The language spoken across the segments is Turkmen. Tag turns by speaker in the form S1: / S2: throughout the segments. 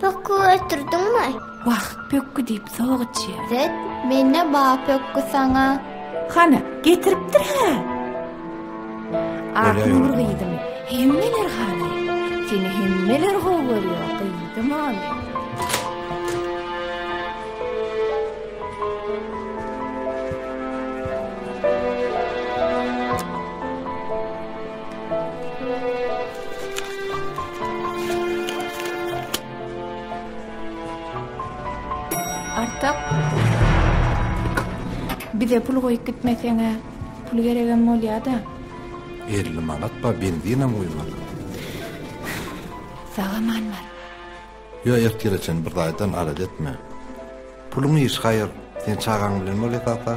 S1: Pökgü ötürdüňmi? Wah, pökgü diýip sok içýär. Zet, mende ba pökgü saňa. Hany, getiripdir-hä? Aknur gyzym, hemmeler halaýar. Seni hemmeler gowy görýär, gyzym ol. Artyk, bize pul goýup gitmeseň-ä, pul geregem bolýa-da. Elli manat bar, benzinem guýmaz. Sag-aman bar. Ýok, ertire çen bir zaýdan alada etme. Puluň iş, haýyr, sen çagaň bilen bol esasy.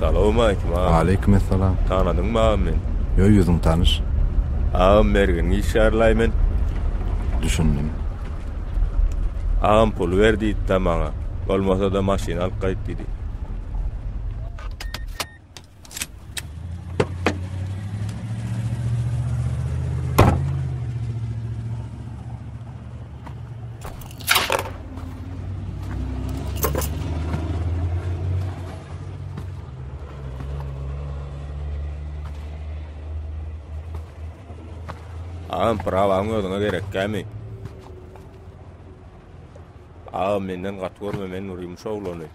S1: Salawmaleýkim agam. Aleýkum essalam. Tanadyňmy agam meni? Ýo, ýüzüň tanyş. Agam mergen işgärlaý men. Düşündim. Agam pul ber diýdi-de maňa. Bolmasa-da maşyn alyp gaýt diýdi. Ağam prawaň özüňe gerek gämi. Ağam menden gat görme men urym şowlany.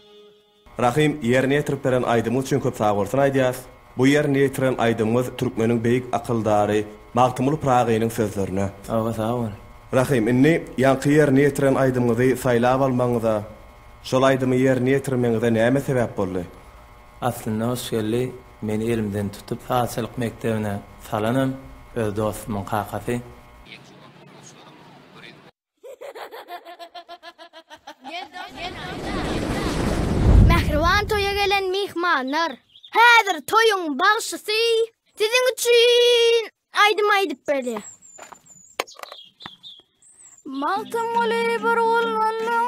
S1: Rahym ýerine ýetirip beren aýdymyňyz üçin köp sagbolsun aýdýas. Bu ýerine ýetiren aýdymyňyz türkmeniň beýik akyldary Magtymguly Pyragynyň sözlerine. Agha sag bol. Rahym indi ýaňky ýerine ýetiren aýdymyňyzy saýlap almagyňyza, şol aýdymy ýerine ýetirmegiňize näme sebäp boldy? Aslynda hoş geldi meni elimden tutup sazçylyk mekdebine salanam öz dostumyň kakasy. Mähriban toýa gelen myhmanlar. Häzir toýuň bagşysy siziň üçin aýdym aýdyp berýär. Magtymguly bir gul boldum.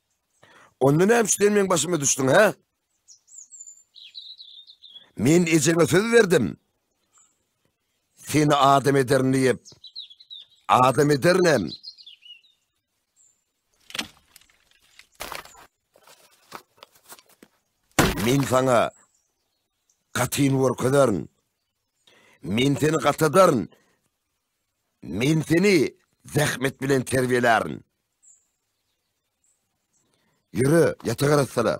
S1: Onda näme üçin meň başyma düşdüň, hä? Men ejeňe söz berdim. Seni adam ederin diýip. Adam ederinem. Men sana katyn görkezerin. Men seni katadaryn. Men seni zähmet bilen terbiýelärin. Ýöre, ýataga rast sala.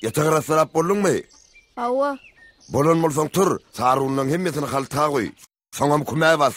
S1: Ýatagy rassarap bolduňmy? Hawa. Bolan bolsaň tur, sarunlaň hemmesini halta goý. Soňam kümä bas.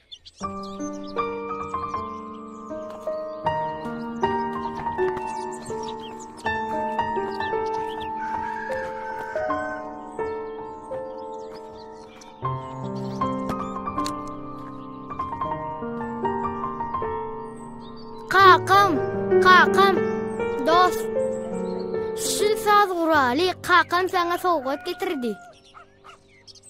S1: Kakam, kakam, dost. Şu saz guraly kakam sana sowgat getirdi.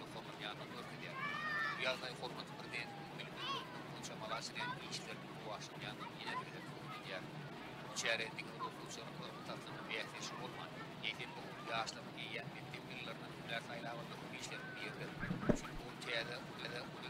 S1: Mukammal ýagdaý görkezýär. Bu ýagdaý hormatly Prezidentimiziň bilim we görkezmek boýunça amala aşyrýan işleriniň rowaçlanýandygyny ýene bir gezek subut edýär. Bu çäre diňe bir okuwçylaryň ylmy taslama bäsdeşi bolman, eýsem bu okuw ýaşlarynyň eýýäm mekdep ýyllarynydan hünär saýlap almak işleriniň biridir. Çünki ol täze,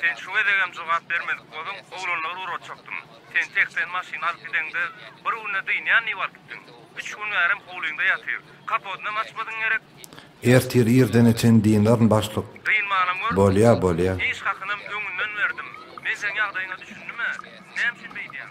S1: Sen şu gezegem jogap bermedik bolduň, oglanlary ugratjakdym. Sen seksen maşyn alyp gideňde, bir günde dynýan diýip alyp gitdiň. Üç gün bärem howlyňda ýatyr. Kapodynam açmadyň gerek? Ertir irdene çen dynaryn başlyk. Dynmanam gör. Bolýa, bolýa. Iş hakynam öňünden berdim. Men seň ýagdaýyňa düşündim-ä. Näme üçin beýdýäň?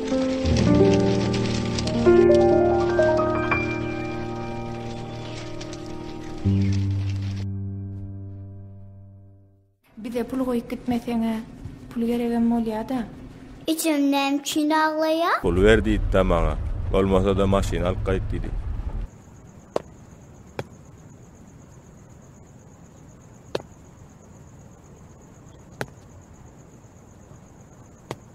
S1: Bize pul goýup gitmeseňä. Pul geregem bolýada. Ejem näme üçin aglaýa. Pul ber diýipda maňa. Bolmasada maşyn alyp gaýt diýdi.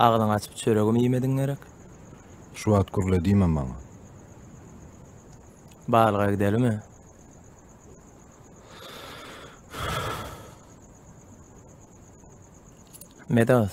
S1: Agzyňy açyp çöregim iýmediň gerek. Şu wagt gürle diýme maňa. Balga gidelimi? Medas,